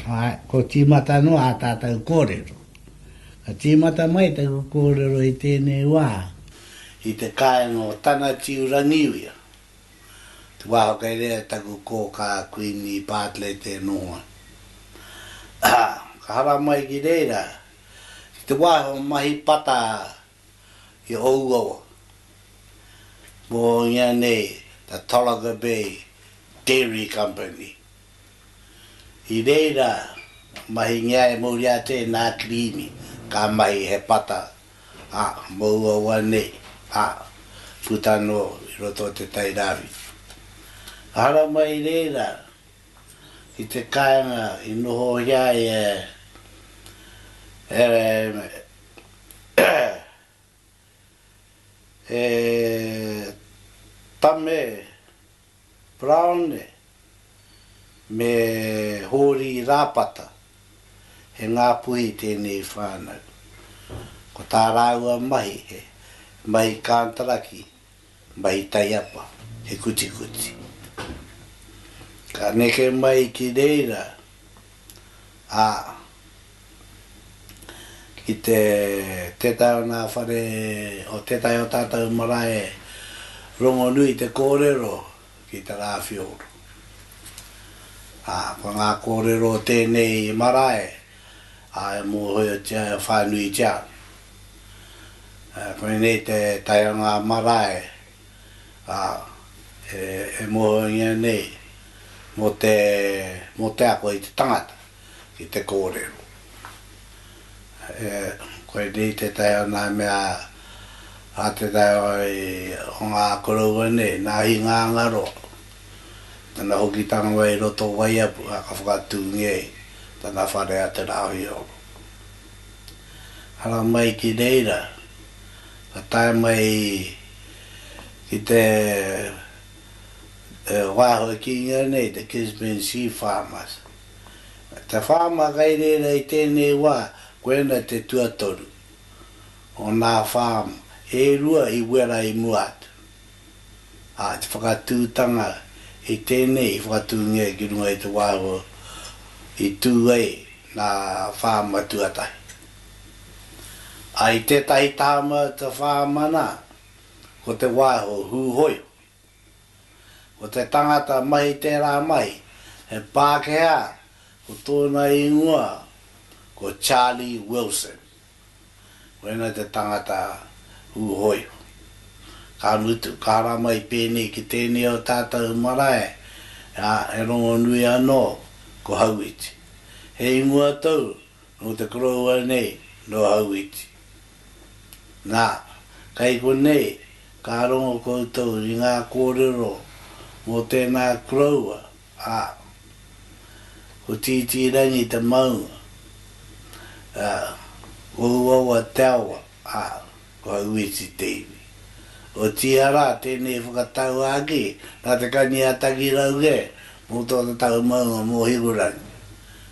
Ā, kua tīmata noa ā tātou kōrero. Ka tīmata mai taku kōrero i tēnei wā, i te kāinga o Tanatiu Rangiuia, te wā kei reira taku kōkā Kuini Bartlett e nohoa. Ā, ka haramai ki reira, i te wā he mahi pata i ōu awa. Mō ianei a Tolaga Bay Dairy Company. I reira mahingia e muri atu e nā Kirīmi ka mahi he pata, ā, mō ua awa nei, ā, puta anō i roto o te Tai Rāwhiti. Ehara mai reira ki te kāinga i nohohia ai e e Tame Browne me Hōri Rāpata, he Ngāpuhi tēnei whānau. Ko tā rāua mahi he mahi kantaraki Mahi taiapa, he kutikuti. Ka neke mai ki reira, ā, ki te tētahi o ngā whare o tētahi o tātou marae rongonui te kōrero ki te rāwhioro. Ā, ko ngā kōrero o tēnei marae Ā, e mōhiotia, e whānuitia. Koinei te tae o ngā marae, ā, e mōhiongia nei mō te, mō te ako i te tangata, ki te kōrero. Koinei te tae o ngā mea, ā, te tae o ngā koroua nei, ngā hinga angaroa. Ana hoki tā Noa i roto o Waiapu, ā, ka whakatūngia i tana whare a Te Rāwheoro. Haramai ki reira, ka tae mai ki te wāhua kīnga nei, te Gisborne Sea Farmers. Te whāma kai reira i tēnei wā, koina te tuatoru o nā farm e rua i wera i mua atu. ā, te whakatūtanga i tēnei i whakatūngia ki runga i te wā i tū ai ngā whāma tuatahi. Ā, i tētahi tāma ka whāmana ko Te Waiho Hūhoiho. Ko te tangata mahi tērā mahi, he Pākehā, ko tōna ingoa ko Charlie Wilson. Koinei te tangata hūhoiho. Ka mutu, ka ara mai pēnei ki tēnei o tātou marae, ā, he rongonui anō ko Hauiti. He ingoa tou nō te koroua nei, nō Hauiti. Nā, kei konei ka rongo koutou i ngā kōrero mō tēnā koroua. Ā, ko Tītīrangi te maunga, ā, ko Uaua te awa, ā, ko Auiti te iwi. Otiia rā, tēnei whakatau ake, nā Te Kani-a-Takirauge mō tō tatau maunga mō Hikurangi.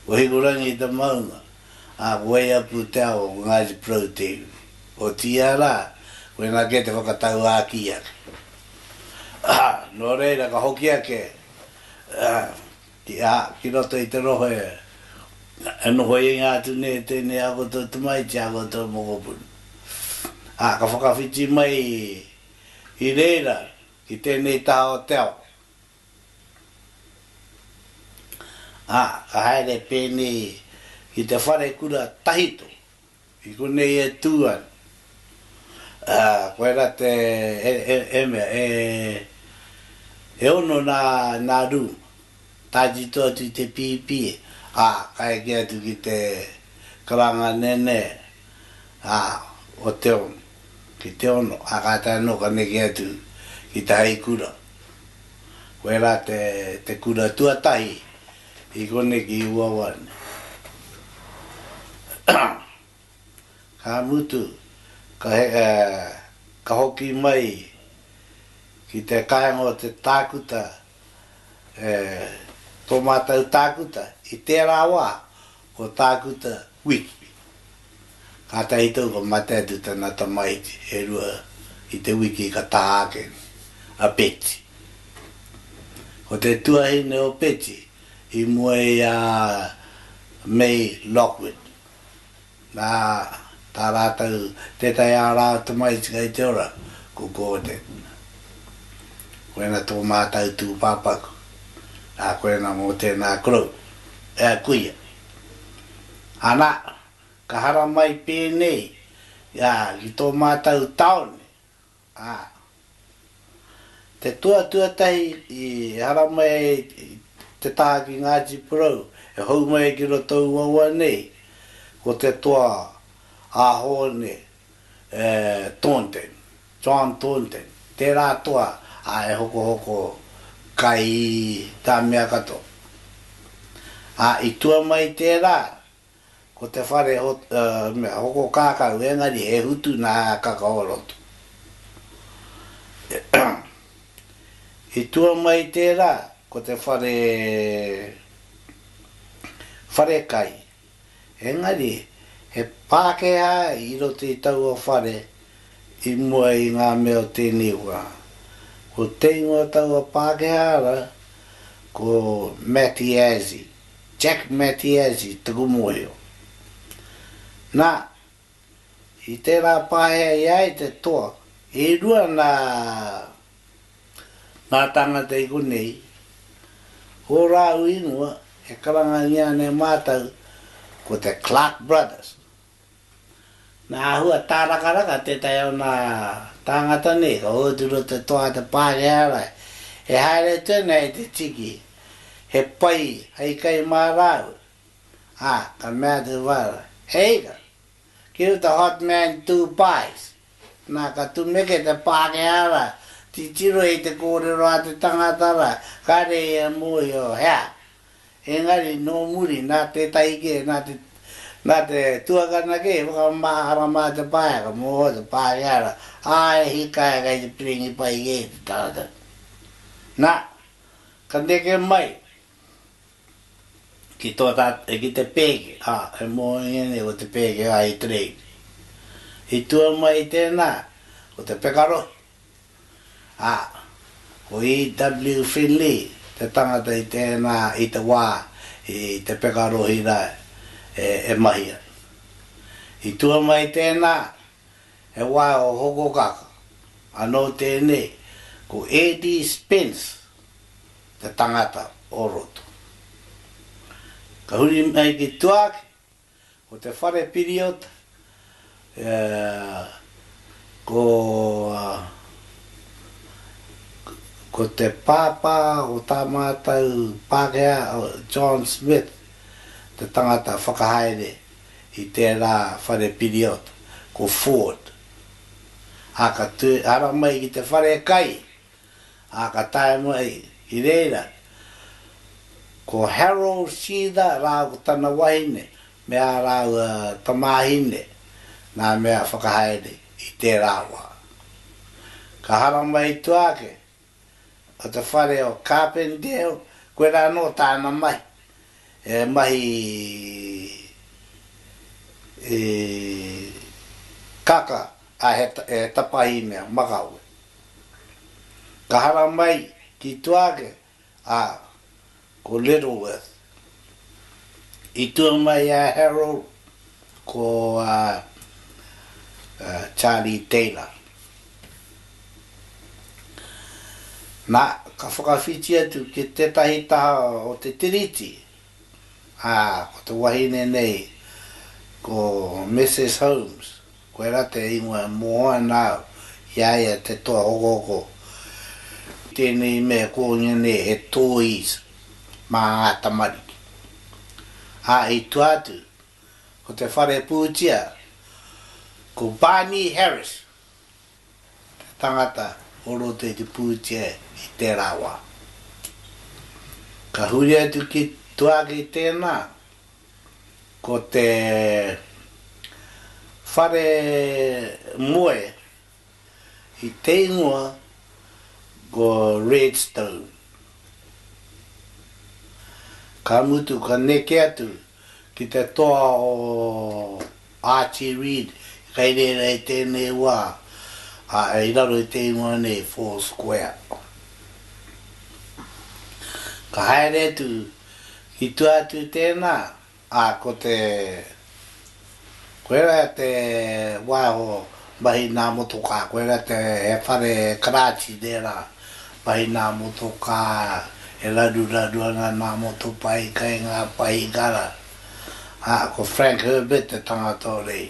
Ko Hikurangi te maunga, ā, ko Waiapu te awa, ko Ngāti Porou te iwi. Otiia rā, koinā kē te whakatau āki ake. Nō reira ka hoki ake ki roto i te rohe e nohoinga atu nei e tēnei a koutou tamaiti, a koutou mokopuna. Ā, ka whakawhiti mai i reira ki tēnei taha o te ao. Ā, ka haere pēnei ki te wharekura tahito. I konei e tū ana. Ā, koe rā te, e, e, e mea, e, e ono nā, nā rūma. Tātito atu i te pīpī, ā, ka eke atu ki te karanga nēnē, ā, o te ono, ki te ono, ā, kātahi anō ka neke atu ki te hai kura. Koe rā te, te kura tuatahi. I konei ki uawa nei. Ka mutu, ka he, ka hoki mai ki te kāinga o te tākuta, e, tō mātou tākuta, i tērā wā, Ko Tākuta Wiki. Kātahi tau ka mate atu tana tamaiti e rua i te wiki ka taha ake a Peti. Ko te tuahine o Peti i mua i a May Lockwood, nā, Tā rātou tētahi ārā o te mahi tika i te ora, ko Gordon. Koina tō mātou tūpāpaku, ā, koina mō tēnā korou, e ai kuia. Anā, ka haramai pēnei, ā, ki tō mātou tāone. ā, te toa tuatahi i ehara mai ai te taha ki Ngāti Porou, e hou mai ai ki roto o Uaua nei, ko te toa a Hōne Thornton, John Thornton, tērā toa ā e hokohoko kai tā mea katoa. Ā, i tua mai tērā, Ko te whare mea hoko kākau engari he hutu nā Kakaorotu. I tua mai i tērā ko te whare wharekai engari he Pākehā i roto i taua whare i mua i ngā mea o tēnei wā. Ko te ingoa taua Pākehā ara ko Matty Azzi. Jack Mattiazzi taku mōhio. Nā, i tērā pāhea i a ia te toa, e rua nā ngā tāngata i konei, ō rāu ingoa e karangangia nei mātou ko te Clark Brothers. Nā Ahua Tārakaraka tētahi o nā tāngata nei ka ōtiro te toa a te Pākehā Rae e haere atu ana e te tiki he pai hei kai mā rāua, ā, ka mea te whānau, He ika, ki uta hot man tū pies. Nā ka tumeke te Pākehā rā, titiro i te kōrero a te tangata rā, kāre ia e mōhio hea Engari, nō muri, nā tētahi kē, nā te, nā te tuakana kē, i whakamahara mā te pāheaka, mō te pārehara, ā, e hika ai kei te piringi pai kē te tangata. Nā, ka neke mai ki tō tā, ki te pēke, ā, e mōhio nei ko te pēke a Itireiti. I tua mai i tēnā, ko te pekarohe. Ā, ko E.W. Finley te tangata i tēnā i te wā i te peka rohi rā e mahi ai. I tua mai tēnā, he wā o Hokokaka, anō tēnei ko Eddie Spence te tangata o roto. Ka huri mai ki tuāki, Ko te whare period e ko ko te pāpā o tā mātou Pākehā o John Smith te tangata whakahaere i tērā whare period ko Ford. Ā ka tū ara mai ki te whare kai ā, ka taea noa ihi. I reira, ko Harold Seether rāua ko tana wahine me ā rāua tamāhine ngā mea whakahaere i tērā wā. Ka haramai i tua ake o te whare o Carpendale, koirā anō tāna mahi, he mahi i kaka A he tapahi mea makawe. Ka hara mai ki tua ake a ko Littleworth. I tua mai a Harold ko a Charlie Taylor. Na, ka whakawhiti atu ki tetahi taha o te Tiriti, a ko te wahine nei ko Mrs. Holmes. Koe ra te ingoa mo ana au, i a ia te toa ogogo. Tenei mea kounga nei he toys ma nga tamariki. A i tua atu, ko te whare putia, ko Barney Harris te tangata o roto i te putia i tera wa. Ka huri atu ki tua ki tena, Ko te whare moe i te ingoa ko Redstone. Ka mutu ka neke atu ki te toa o. Archie Reid kai reira i tēnei wā, ā, i raro i te ingoa nei Four Square. Ka haere atu, i tua atu tēnā, ā, ko te, koirā te waiho Mahi nā motokā, koe rā te he whare karāti tērā. Mahi nā motokā, e raruraru ana nā motopae kai ngā paihikara. Ā, ko Frank Herbert te tangata o rei.